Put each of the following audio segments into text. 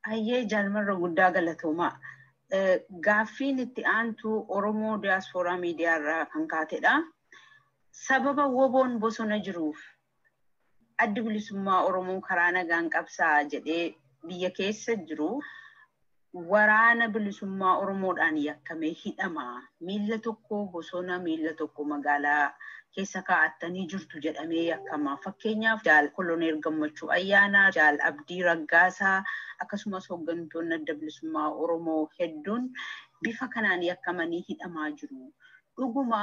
Hayyee jaalmarra guddaa galatoomaa. Gaaffiin itti aantu Oromoo Diyaaspooraa Miidiyaa irraa kan kaatedha. Sababa woboon bosona jiruuf Addi Bilisummaa Oromoo karaa nagaan qabsaa'a jedhee biyya keessa jiru waraana bilisummaa Oromoodhaan yakkamee hidhama. Miilla tokko bosona, miilla tokko magaalaa keessa kaa'attanii jirtu jedhamee yakkama. Fakkeenyaaf Jaal Koloneel Gammachuu Ayyaanaa, Jaal Abdii Raggaasaa akkasumas hooggantoonni Adda Bilisummaa Oromoo hedduun bifa kanaan yakkamanii hidhamaa jiru. Dhuguma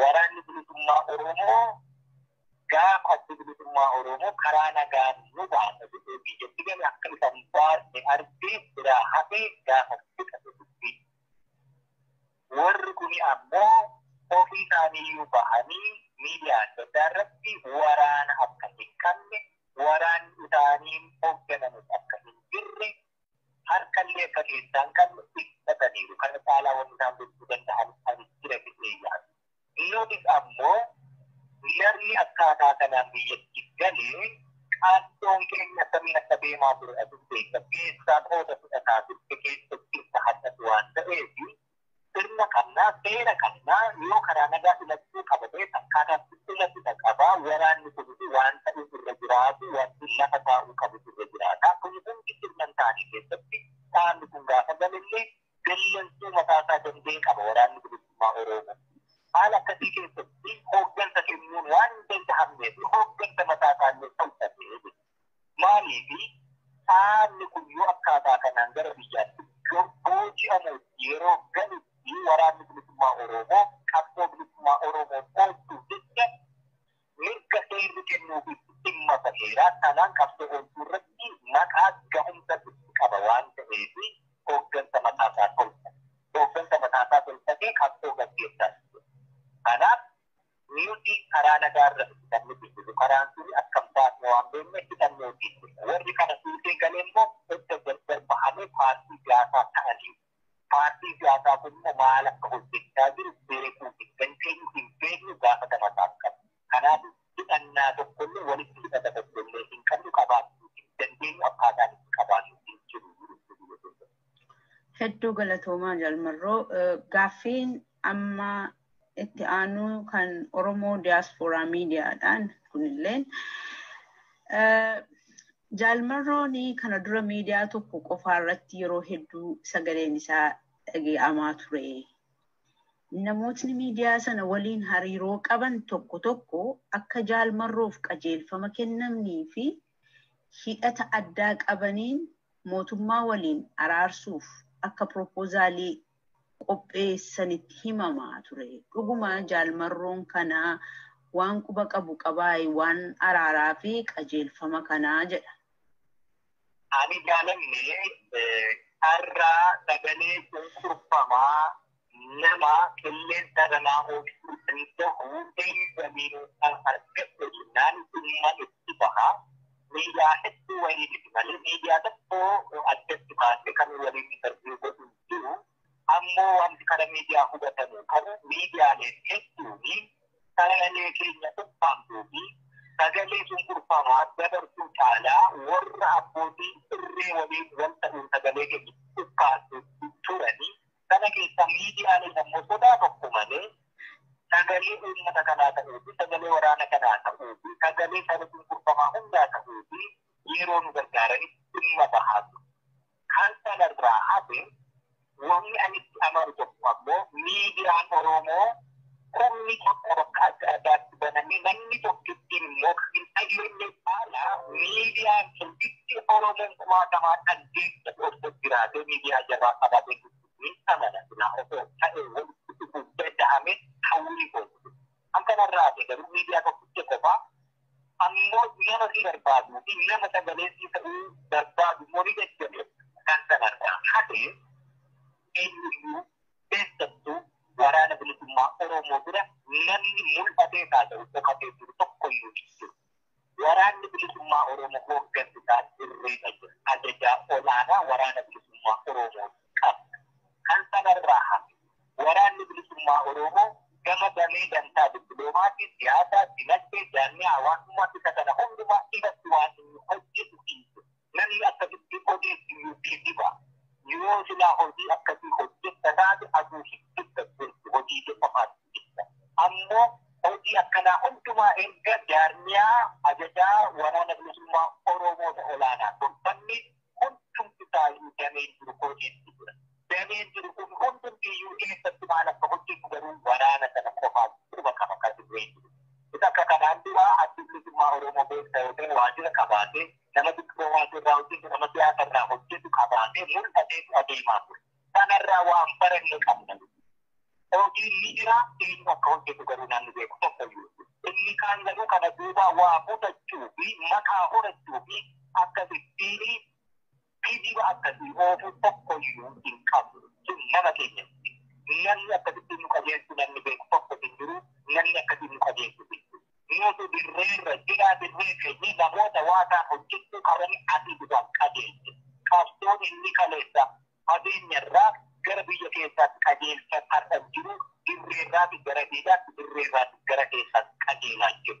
Waraanni Bilisummaa Oromoo gaafa Addi Bilisummaa Oromoo karaa nagaan nu baasa jedhee biyyatti gale akka isa hin baasne argee biraa hafee gaafa fixate dubbii. Warri kuni ammoo ofii isaaniiyyuu bahanii miidiyaa adda addaa irratti waraana akka hin qabne, waraanni isaaniin hoogganamus akka hin jirre harkallee akka keessaa hin qabne ibsataniiru. Kana caalaa wanni isaan gochuu danda'an ani jira jedhee yaadu. Dhiiroonis ammoo jarri akkaataa kanaan biyyatti gale qaaddoon keenya akkamiin akka deemaa ture atis beekta. Keessaan hooda fudhataa turte keessa jirta har'as waan ta'eef sirna qabna, seera qabna, yoo karaa nagaa filachuu qaba ta'e akkaataa itti filatudha qaba, waraanni kunis waan ta'uuf irra jiraatu wanti lafa taa'uu qabus irra jiraata. Kun hundi sirna hin taane keessatti dhaabni kun gaafa galellee dallansuu mataa isaa danda'e qaba waraanni bilisummaa Oromoo. Haala akkasii keessatti hooggansa kennuun waan hin danda'amneef hooggansa mataa isaallee tolfatee Maaliifi dhaabni kun yoo akkaataa kanaan gara biyyaatti booji'amuuf yeroo galutti Waraanni Bilisummaa Oromoo qabsoo bilisummaa Oromoo oolchuuf jecha mirga seerri kennuufiitti dhimma baheera. Kanaan qabsoo oolchuu irratti maqaa gahumsa itti qaba waan ta'eef hooggansa mataasaa tolfate. Hooggansa mataasaa tolfatee qabsoo gaggeessaa jira. Kanaaf Nuti karaa nagaa irra miti kan nuti jiru. Karaan sun akkam baasna waan beekneef hidhannooti. Warri kana fuutee gale immoo edda gargar bahamee paartii siyaasaa ta'anii. Paartiin siyaasaa kun immoo maal akka hojjechaa jiru beekuu hin dandeenyu, hin beeknu, gaafatama isaa hin qabnu. Kanaaf hidhannaa tokko illee walitti hidhata tokko illee hin qabnu, qabaachuu hin dandeenyu, akkaataan itti qabaannu hin jiru. Hedduu galatoomaa jaalmarroo gaaffiin amma itti aanuu kan Oromoo Diyaaspooraa Miidiyaadhaan kunilleen jaalmarroon kana dura miidiyaa tokko qofaa irratti yeroo hedduu sagaleen isaa dhagee'amaa ture. Namootni miidiyaa sana waliin hariiroo qaban tokko tokko akka jaalmarroof qajeelfama kennamnii fi hidhata addaa qabaniin mootummaa waliin araarsuuf akka piropoozaalii qopheessanitti himamaa ture. Dhuguma Jaal Marroon kana waan quba qabu qabaayi waan araaraa fi qajeelfama kanaa? jedha. Ani jaalanne har'a sagalee cunqurfamaa nama qilleensa irraa oolchuu danda'u eeyyamiin kan argatte jennaan dhimma itti baha. Miidiyaa hedduu waliin miti malee miidiyaa tokko addatti baasee kan waliin interviyuu godhu hin jiru. Ammoo wanti kana miidiyaa hubatamu qabu miidiyaaleen hedduun sagalee keenya ukkaamsuu fi sagalee cunqurfamaa dabarsuu caalaa warra abbootii irree waliin wal ta'uun sagalee keenya ukkaamsuu turanii Kana keessaa miidiyaaleen ammoo sodaa tokko malee sagalee uummata kanaa ta'uu fi sagalee waraana kanaa ta'uu fi sagalee saba cunqurfamaa hundaa ta'uu fi yeroo nu gargaaranitti dhimma bahaa jiru. Kan sanarraa hafe wanni ani itti amanu tokko ammoo miidiyaan Oromoo Kumni tokko bakka adda addaatti banamee namni tokko ittiin immoo kan hin dhageenye caala miidiyaan sun itti Oromoon kumaatamaadhaan deeggaru osoo jiraatee miidiyaa jabaa qabaatee jirtu ni amana silaa osoo ta'ee walitti dhufuun danda'ame hawwii kooti. Kan kanarraa hafe garuu miidiyaa tokkicha qofaa ammoo nama si barbaaduu fi nama sagalee si ta'uu barbaadu immoo ni jajjabeessa. Kan kanarraa hafe eenyuyyuu keessattuu waraana bilisummaa Oromoo bira namni mul'atee haa ta'u dhokatee jiru tokko iyyuu hin jiru. Waraanni bilisummaa Oromoo hooggansi isaa dirreerra jira. Ajajaa olaanaa waraana bilisummaa Oromoo qabna. Kan sanarraa hafe waraanni bilisummaa Oromoo gama damee dantaa dippiloomaatii, siyaasaa, dinagdee, jaarmiyaa hawaasummaa isa kana hundumaa irratti waan inni hojjetu hin jiru. Namni akkasitti odeessu ni kijiba. Yoo silaa hojii akkasii hojjetta taate aduu hin jetta jirtu hojii kee qofaaf jetta. Ammoo hojii akkanaa hundumaa erga jaarmiyaa ajajaa waraana bilisummaa Oromoo ta olaanaa tolfanne hundumti isaayyuu dameen jiru odeessu jira. Dameen jiru kun hundumtiyyuu eessatti maal akka hojjetu garuu waraana sana qofaaf quba qaba ka dirree jiru. Isa akka kanaan dura Addi Bilisummaa Oromoo beekta yoo ta'e waajira qabaatee nama dippiloomaasii irraa hojjetu nama siyaasa irraa hojjetu qabaatee mul'ateetu adeemaa ture. Kanarraa waan baranne qabna. Hojiin ni jira inni akka hojjetu garuu namni beeku tokko iyyuu. Inni kaan garuu kana duubaa waa butachuu fi maqaa horachuu fi akka sittiinii Kijiba akkasii oofuu tokko iyyuu hin qabu. Sun nama keenya miti. Namni akkasitti nu qajeelchu namni beeku tokko hin jiru. Namni akkasiin nu qajeelchu hin jiru. Nutu dirreerra jira, dirree keenyee namoota waa kaan hojjechuu qabanii asii duwwaan qajeelche. Qabsoon inni kaleessa fageenyarraa gara biyya keessaatti qajeelchan har'as jiru. Dirreerraati gara diinaatti, dirreerraati gara keessaatti qajeelaa jiru.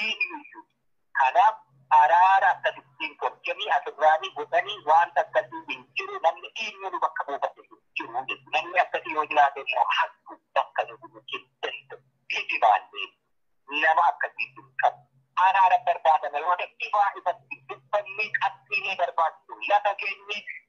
eenyuyyu kanaaf araara akkasittiin tolchanii asirraanii godhanii waanta akkasii hin jiru namni eenyuu nu bakka buufate hin jiru jechu namni akkasii yoo jiraate immoo hattu bakka nu bu'u hin danda'u kijibaallee nama akkasii hin qabu araara barbaadama yoo ta'e ifaa ifatti dubbannee qabxiilee barbaachisu lafa keenyee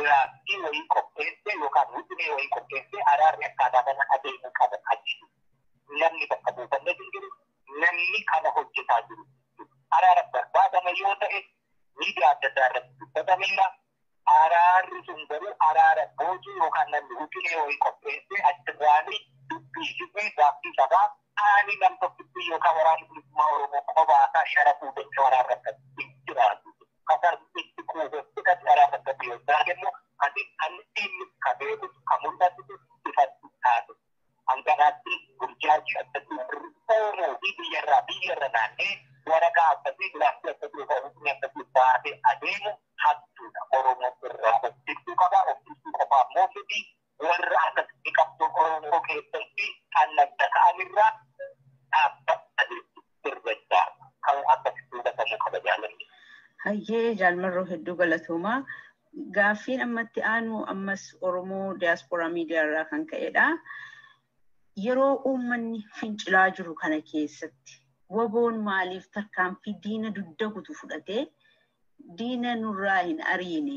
diraaftii wayii qopheessee yookaan wixinee wayii qopheessee araarri akkaataa kana adeemuu qaba kan jedhu namni bakka buufannes hin jiru. Namni kana hojjetaa jiru araara barbaadame yoo ta'e miidiyaa adda addaa irratti dubbatameera. Araarri sun garuu araara boojuu yookaan namni wixinee wayii qopheessee achirraanii dubbii hidhee gaaffii sabaa qaanii nam tokkittii yookaan waraanni bilisummaa Oromoo qobaasaa sharafuu danda'u araarra akkasii hin jiraatu. Qatar itti quufeef qixa caraa fakkatti yoggaa kennu ati kan inni ka beekutu ka mul'atutu ifatti taate. Hanganaatti burjaajii akkasii warri Oromoo fi biyyarraa biyyarra naannee waraqaa akkasii giraafii akkasii yookaan hukmii akkasii baatee adeemu hattuudha. Oromoon irraa of tiksuu qaba. Of tiksuu qofaa immoo miti warra akkasitti qabsoo Oromoo keessatti kan ladda ta'an irraa dhaabbatanii sirreessaa kan akkasitti hubatamu qaba jaalalli. Hayyee jaalmarroo hedduu galatoomaa. Gaaffiin ammatti aanu ammas Oromoo diyaaspooraa miidiyaa irraa kan ka'edha. Yeroo uummanni fincilaa jiru kana keessatti waboon maaliif tarkaanfii diina dugda kutu fudhatee diina nurraa hin ariine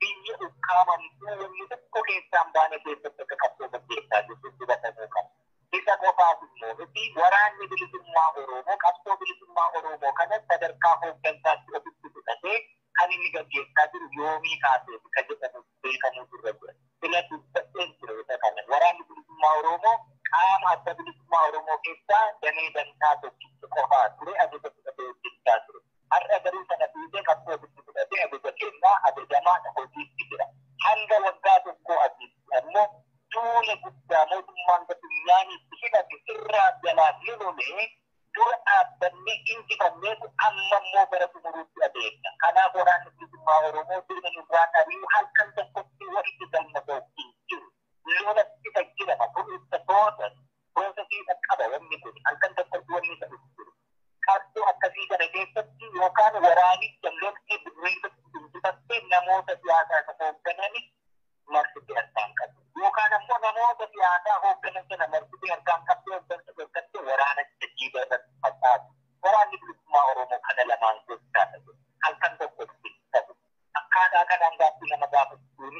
biyya ukkaamame iddoo wanni tokko keessaa hin baane keessatti akka qabsoo gaggeessaa jirru hubatamuu qaba. Isa qofaas immoo miti waraanni bilisummaa Oromoo qabsoo bilisummaa Oromoo kana sadarkaa hooggansaatti ofitti fudhatee kan inni gaggeessaa jiru yoomii kaaseeti ka jedhamu beekamuutu irra jira. Sila dubbadheen ture isa kana. Waraanni bilisummaa Oromoo qaama adda bilisummaa Oromoo keessaa damee dantaa tokkicha qofaa ture ajaja fudhatee hojjechaa ture. Har'a garuu sana dhiisee qabsoo ofitti fudhatee ajaja kennaa, ajajamaa, hojiitti jira. Hanga waggaa tokkoo asiitti ammoo duula guddaa mootummaan Gabiyyaan itti hidhate irraa jalaan ni lolee, dura dhaabbannee injifanneetu amma immoo gara xumuruutti adeemna. Kanaaf Waraanni Bilisummaa Oromoo diina nurraan ari'uu halkan tokkotti wanti galma ga'u hin jiru. Lola ittisa jirama. Kun ittisa boodas Goota keessa qaba wanni kun halkan tokkotti wanni isa dhufu jiru. Qabsoo akkasii kana keessatti yookaan waraanicha loltee dirreessa injifattee namoota siyaasaa isa hoogganani marsitee harkaa hin qabdu. Yookaan ammoo namoota siyaasaa hoogganan sana marsitee harkaa hin qabdu hooggansa dhorkattee waraana jajjiiba irratti facaatu. Waraanni bilisummaa Oromoo kana lamaan gochaadha jedhu. Halkan tokkotti hin ta'u. akkaataa kanaan gaaffii nama gaafachuun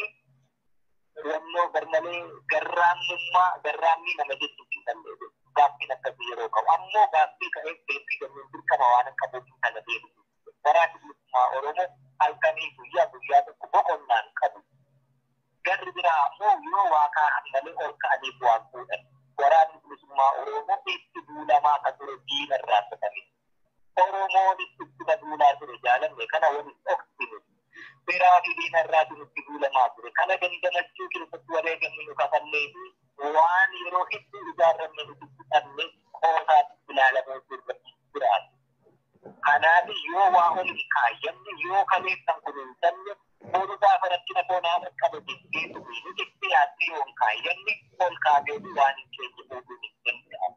filannoo garmalee garraamummaa garraammii nama jechuuf hin dandeenye gaaffiin akkasii yeroo qabu ammoo gaaffii ka'eef deebii kennuun dirqama waan hin qabuuf kana deebisu waraanni bilisummaa oromoo halkanii guyyaa guyyaa tokko boqonnaa hin qabu garri biraa ammoo yoo waa kaa'an malee ol ka'aniif waan fuudhan waraanni bilisummaa oromoo itti duulamaa akka ture diina irraa fudhame Oromoon itti na duulaa ture jaalanne kana wal hin dhoksine. Beraa fi diina irraati nutti duulamaa ture. Kana dandamachuu keessatti wareegamni nu kafallee fi waan yeroo hedduu ijaarranne nuti fixanne qoosaatti ilaalamuu nurra hin jiraatu. Kanaaf yoo waa ol hin kaayyanne, yoo kaleessan kunuunsanne, boru gaafa rakkina koo naa dhaqqabe jettee tumiini jettee yaaddee yoo hin kaayyanne ol kaatee fi waan hin keenye fuudhuun hin danda'amu.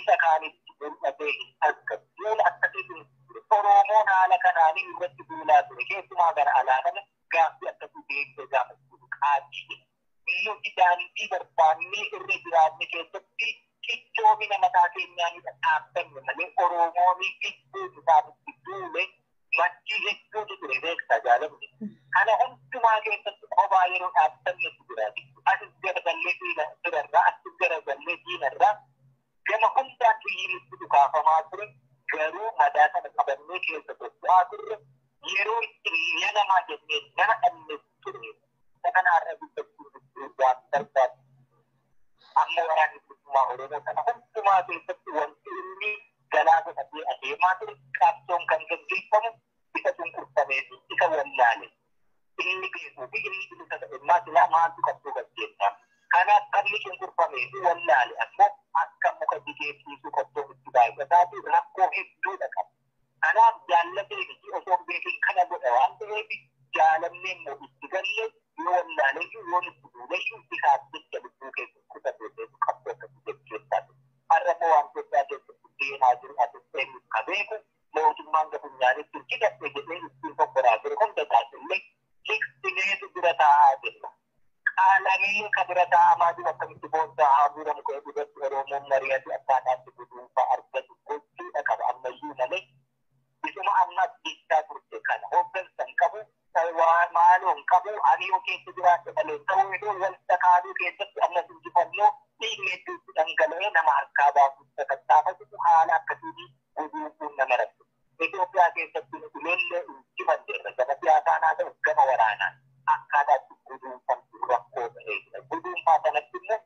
isa kaanitti mul'atee hin argamu. Duula akkasii ture. Oroomoon haala kanaanii irratti duulaa ture. Keessumaa gara alaa kana gaaffii akkasii deebisee gaafachuuf qaanii jedha. Nuti daandii barbaannee irra jiraanne keessatti cichoomina mataa keenyaanidha dhaabbanne malee Oroomoonii gidduu isaanitti duule maddii hedduutu ture beektaa jaalamni. Kana hundumaa keessatti qobaa yeroo dhaabbannetu jira. Asis garagallee diina birarraa, asis garagallee diinarraa gama hundaan xiyyiinitti dhukaafamaa ture. Garuu madaa sana qabannee keessa socho'aa turre. Yeroo itti miila namaa jennee nama dhabne ture. Isa kana har'a dubbachuu gidduu waan barbaadu. Amma waraanni bilisummaa Oromoo kana hundumaa keessatti wanti inni galaa godhatee adeemaa ture qabsoon kan gaggeeffamu isa cunqurfamee fi isa wallaale inni beekuu fi inni bilisa ta'e immaa silaa maaltu qabsoo gaggeessaa kanaaf qabni cunqurfamee fi wallaale ammoo akka muka jigee ciisuu qabsoon itti baay'ataa fi rakkoo hedduudha qaba kanaaf jaallatee miti osoon beekin kana godha waan ta'eef jaalannee immoo itti galle yoo wallaaleyyuu yoo nutti duuleyyuu isaaf jecha lubbuu keessa kutatee qabsoo akkasii gaggeessaa ture. har'a immoo waan Itoophiyaa keessatti deemaa jiru asitti eenyutu ka beeku mootummaan ka funyaanitti hin hidhatte jedhee ittiin fokkoraa ture hunda isaatiillee hiqsineetu bira taa'aa jirra. Qaalamee ka bira taa'amaa jiru akkamitti boonsaa haa guuramu ka jedhu irratti Oromoon mari'ate akkaataa itti guduunfaa argatu gochuudha qaba ammayyuu malee Isuma amma jechaa turte kana hooggansa hin qabu, waa maaloo hin qabu, ani yoo keessa jiraadhe malee ta'uu hin oolu, wal sakaaduu keessatti ammas injifannoo dhiigni hedduu itti dhangala'ee nama harkaa baasuuf sakattaafatu haala akkasiitiin guduunfuun nama rakkisa. Itoophiyaa keessatti nuti lollee injifanneerra gama siyaasaan haa ta'u gama waraanaan akkaataa itti guduunfamtu rakkoo ta'ee jira. Guduunfaa sanatti immoo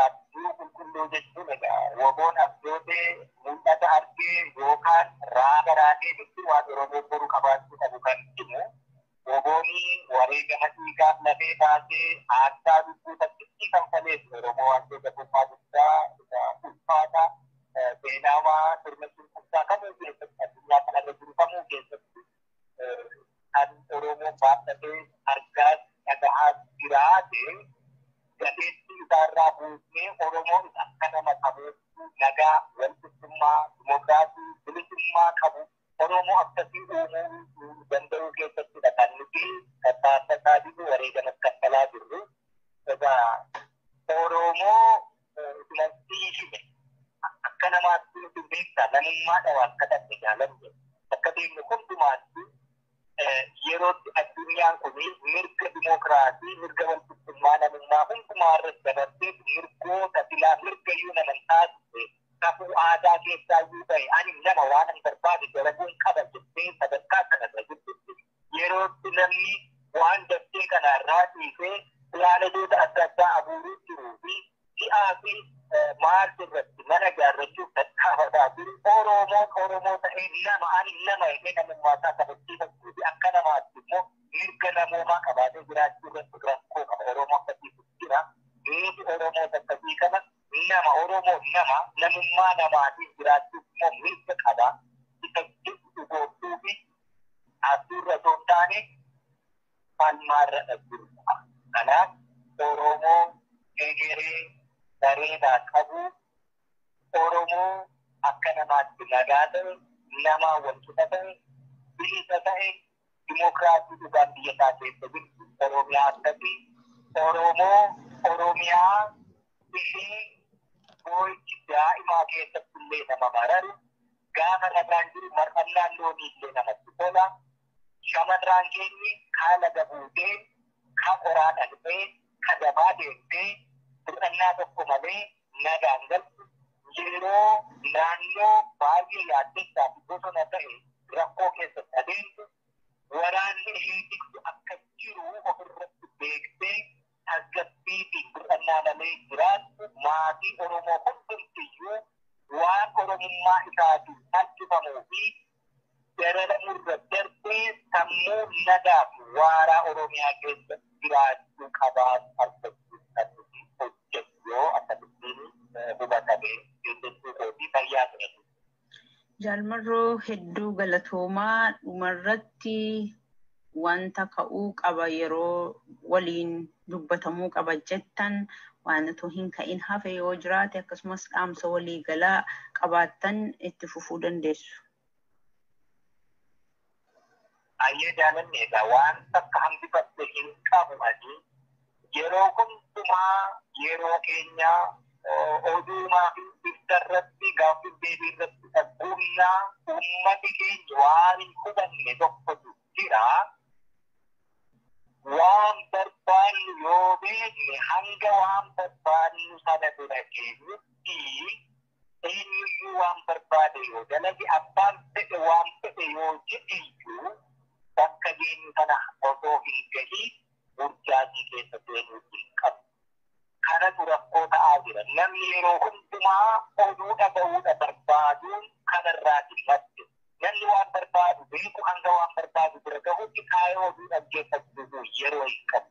Abjuu qulqulluu jechuun egaa waboon abjootee mul'ata argee yookaan raaga raagee jechuun waan Oromoon boru qabaachuu qabu kan himu. Wabooni wareegama dhiigaaf lafee baasee aarsaa lubbuu takkittii kanfaleef Oromoo Addee Gabrummaa guddaa isa ulfaata seenaawaa sirna cunqursaa kamuu keessatti addunyaa kanarra jiru kamuu keessatti kan Oromoo baadhatee argaa dhagahaa jiraate gateetti isaarraa buusnee Oromoon akka nama qabeessuu nagaa, walqixxummaa, dimokiraasii, bilisummaa qabu Oromoo akkasii uumuu danda'uu keessattidha kan nuti tattaaffataa jirru wareegamas kaffalaa jirru. Egaa Oromoo dubartii hime akka namaatti nuti beektaa namummaa dhawa akka dhabne jaalanne bakka deemne hundumaatti yerootti addunyaan kun mirga dimookiraasii mirga walqixxummaa namummaa hundumaa irratti dabarsee mirgoota filaa mirga iyyuu naman taasise kakuu aadaa keessaa iyyuu ta'e ani nama waan an barbaade dalaguun qaba jettee sadarkaa kanarra jirtutti yerootti namni waan dachee kana irraa dhiisee pilaanedoota adda addaa abuuruu jiruu fi ji'aa fi maars irratti mana ijaarrachuuf tattaafataa jiru Oromoon Oromoo ta'ee nama ani nama jedhee namummaa isaa kabachiifachuu fi akka namaatti immoo mirga namoomaa qabaatee jiraachuu irratti rakkoo qaba Oromoo akkasiitu jira nuti Oromoota akkasii kana nama Oromoo nama namummaa namaatiin jiraachuuf immoo mirga qaba isa jedhu dhugoomsuu fi Abjuurra osoo hin taane falmaarra dhabdurra. Kanaaf Oromoo egeree bareedaa qabu, Oromoo akka namaatti nagaa ta'e, namaa wal qixa ta'e, bilisa ta'e, dimokiraasii dhugaan biyya isaa keessa jirtu Oromiyaa akkasii Oromoo Oromiyaa Bishaan boo'ichi daa'imaa keessatti illee nama mararu, gaafa nagaan jiru mar'annaan loonii illee namatti tola. Shamarraan keenyi kaa laga buutee, kaa qoraa dhaqxee, ka dabaa deemtee bir'annaa tokko malee nagaan galtu yeroo naannoo baay'ee yaaddessaa fi bosona ta'e rakkoo keessatti adeemtu waraanni ishee tiksu akka jiru ofirratti beektee tasgabbii fi boqannaa malee jiraattu maatii Oromoo hundumtiyyuu waan Oromummaa isaatiin salphifamuu fi dararamu irra darbee sammuu nagaa fi waaraa Oromiyaa keessa jiraachuu qabaatu argachuu kan nuti hojjennu yoo akkamittiin hubatamee jechuu kooti fayyaa ta'e. Jaalmarroo hedduu galatoomaa dhumarratti wanta ka'uu qaba yeroo waliin dubbatamuu qaba jettan waan utuu hin ka'in hafe yoo jiraate akkasumas dhaamsa walii galaa qabaattan itti fufuu dandeessu. Ayyee jaalanne egaa waan takka hambifadhe hin qabu ani yeroo hundumaa yeroo keenya oduumaa fi ibsa irratti gaaffiif deebii irratti dhagguumnaa uummati keenya waan hin hubanne tokkotu jira. Waan barbaannu yoo beekne hanga waan barbaannu sana bira geenyutti eenyuyyuu waan barbaade yoo dalage abbaan fedhe waan fedhe yoo jedheyyuu bakka deemu sana osoo hin gahiin burjaajii keessa seenuu hin qabu. Kanatu rakkoo ta'aa jira. Namni yeroo hundumaa oduu dhaga'uudha barbaaduun kanarraati madde. Namni waan barbaadu beeku hanga waan barbaadu bira gahutti taa'ee oduu dhaggeeffachuuf yeroo hin qabu.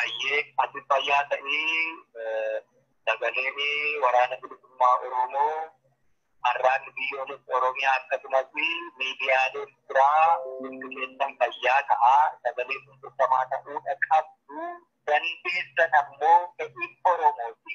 Ayyee ati fayyaa ta'ii sagaleen waraana bilisummaa Oromoo har'aan biyyoolessa Oromiyaa akkasumas miidiyaaleen biraa hundi keessan fayyaa ta'a. Sagalee cunqurfamaa ta'uudha qabdu. Dandeessan ammoo fedhiin Oromooti.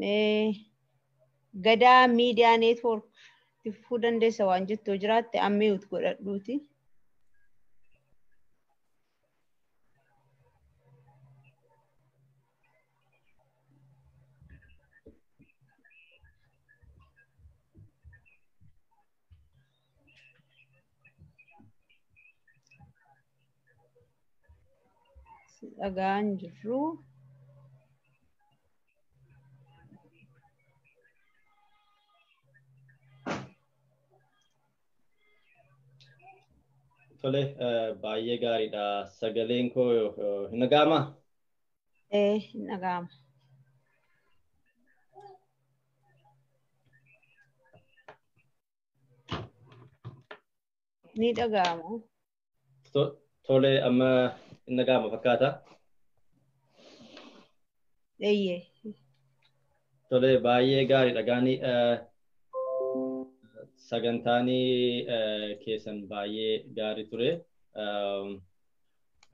Mee gadaa miidiyaa neetwoork tifuu dandeessa waan jettu yoo jiraatte ammiwut godhadhuuti. Si dhagaa hin jirru. Tole baay'ee gaariidha. Sagaleen koo hin dhaga'amaa? Ee hin dhaga'ama. Ni dhaga'ama. To- Tole amma hin dhaga'ama fakkaata. Eeyyee. Tole baay'ee gaariidha gaanii eh, sagantaanii eh, keessan baay'ee gaarii ture. Um,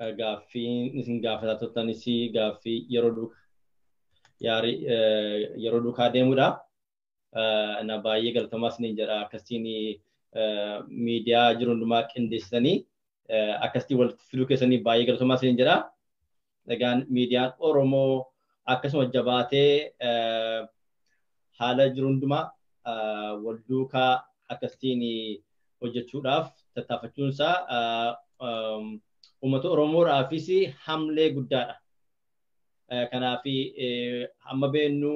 eh, Gaaffii isin gaafataa turtanis gaaffii yeroo duuka yaarii eh, yeroo duukaa deemudha. na baay'ee galatamaa isiniin jedha akkasiin miidiyaa jiru hundumaa qindeessitanii akkasitti walitti fiduu keessanii baay'ee galatamaa isiniin jedha. Egaan miidiyaan Oromoo akkasuma jabaatee haala jiru hundumaa wal duukaa akkasiin hojjechuudhaaf tattaafachuunsaa uummata Oromoodhaafis hamlee guddaadha. Kanaaf hamma beennu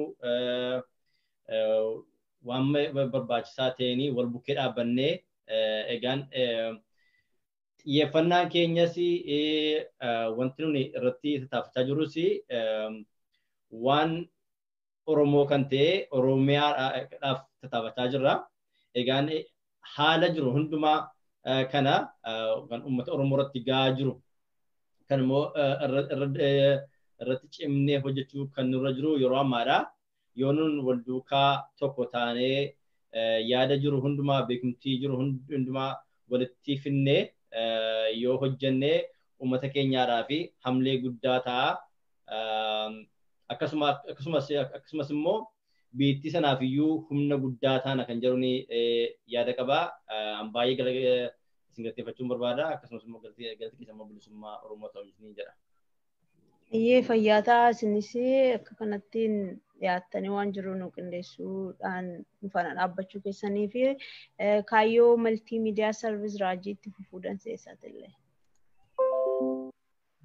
waan barbaachisaa ta'een wal bukkee dhaabbannee egaan xiyyeeffannaan keenyas wanti nuni irratti tattaafachaa jirrus waan Oromoo kan ta'e Oromiyaadhaaf tattaafachaa jirra. Egaan haala jiru hundumaa kana kan uummata Oromoo irratti gahaa jiru kan immoo irratti cimnee hojjechuu kan nurra jiru yeroo ammaadha. Yoo nun wal duukaa tokko taanee yaada jiru hundumaa beekumtii jiru hundumaa walitti finnee yoo hojjennee uummata keenyaadhaa fi hamlee guddaa ta'a akkasumas immoo biittii sanaaf iyyuu humna guddaa taana kan jedhu ni yaada qaba. An baay'ee gala isin galateeffachuun barbaada akkasumas immoo galti keessa immoo bilisummaa Oromoo ta'u ni jedha. Iyyee fayyaa ta'a isinis akka kanattiin dhiyaattanii waan jiru nu qindeessuudhaan nu faana dhaabbachuu keessanii fi kaayyoo maltii miidiyaa sarvis raajiitti fufuu danseessaati illee.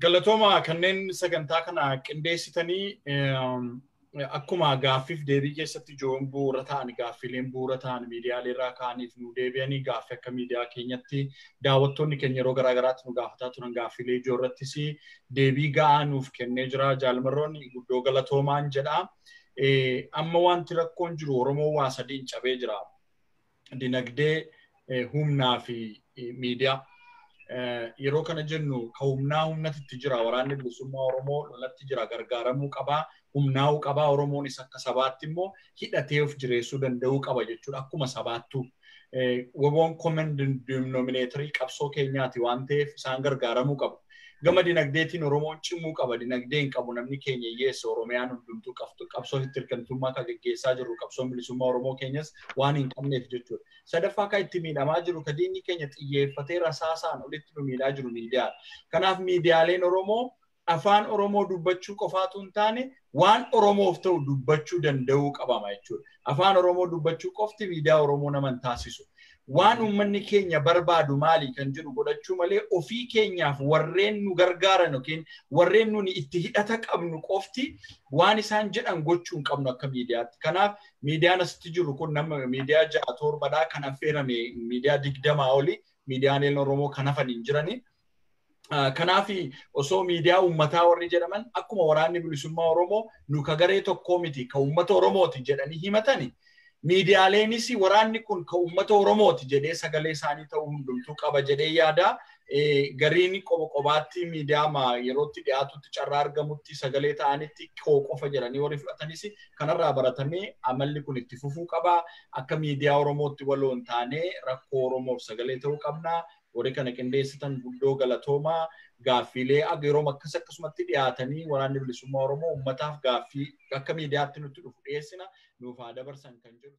Galatooma kanneen sagantaa kana qindeessitanii akkuma gaaffiif deebii keessatti ijoon bu'uura ta'an gaaffiileen bu'uura ta'an miidiyaalee irraa ka'aniif nu deebi'anii gaaffii akka miidiyaa keenyatti daawwattoonni keenya yeroo garaa garaatti nu gaafataa turan gaaffiilee ijoo irrattis deebii ga'aa nuuf kennee jira jaalmarroon guddoo galatoomaan jedha. Amma wanti rakkoon jiru Oromoo waa sadiin cabee jira. dinagdee humnaa fi miidiyaa. Yeroo kana jennu ka humnaa humnatti itti jira waraanni bilisummaa Oromoo lolatti jira gargaaramuu qabaa humnaa'uu qabaa Oromoonis akka sabaatti immoo hidhatee of jireessuu danda'uu qaba jechuudha akkuma sabaattuu. Woboon common denominator qabsoo keenyaati waan ta'eef isaan gargaaramuu qabu. Gama dinagdeetiin Oromoon cimuu qaba. Dinagdee hin qabu namni keenya hiyyeessa Oromiyaan hundumtuu qabsoo hittirkamtummaa kan geggeessaa jirru qabsoon bilisummaa Oromoo keenyas waan hin qabneef jechuudha. Sadaffaa kan itti miidhamaa jiru kan diinni keenya xiyyeeffatee rasaasaan olitti nu miidhaa jiru miidiyaadha. Kanaaf miidiyaaleen Oromoo afaan Oromoo dubbachuu qofaatu hin taane waan Oromoof ta'u dubbachuu danda'uu qabama jechuudha. Afaan Oromoo dubbachuu qofti miidiyaa Oromoo nama hin taasisu. Waan uummanni keenya barbaadu maali kan jedhu godhachuu malee ofii keenyaaf warreen nu gargaaran yookiin warreen nuni itti hidhata qabnu qofti waan isaan jedhan gochuu hin qabnu akka miidiyaatti. Kanaaf miidiyaan asitti jiru kun nama miidiyaa ja'a torbadhaa kan affeerame miidiyaa digdamaa oli miidiyaaleen Oromoo kan hafan hin jirani. Kanaaf osoo miidiyaa uummataa warri jedhaman akkuma waraanni bilisummaa Oromoo nu ka garee tokkoo miti ka uummata Oromooti jedhanii himatani miidiyaaleenis waraanni kun ka uummata Oromooti jedhee sagalee isaanii ta'uu hundumtuu qaba jedhee yaada. Gariin qoba qobaatti miidiyaa yerootti dhiyaatutti carraa argamutti sagalee ta'anitti koo qofa jedhanii warri fudhatanis kanarraa baratamee amalli kun itti fufuu qaba. Akka miidiyaa Oromootti waloo hin taane rakkoo Oromoof sagalee ta'uu qabna. Warri kana qindeessitan guddoo galatoomaa gaaffiilee yeroo akkas akkasumatti dhiyaatanii waraanni bilisummaa Oromoo uummataaf gaaffii akka miidiyaatti nutti dhufu dhiyeessina nuuf haa dabarsan kan jedhu.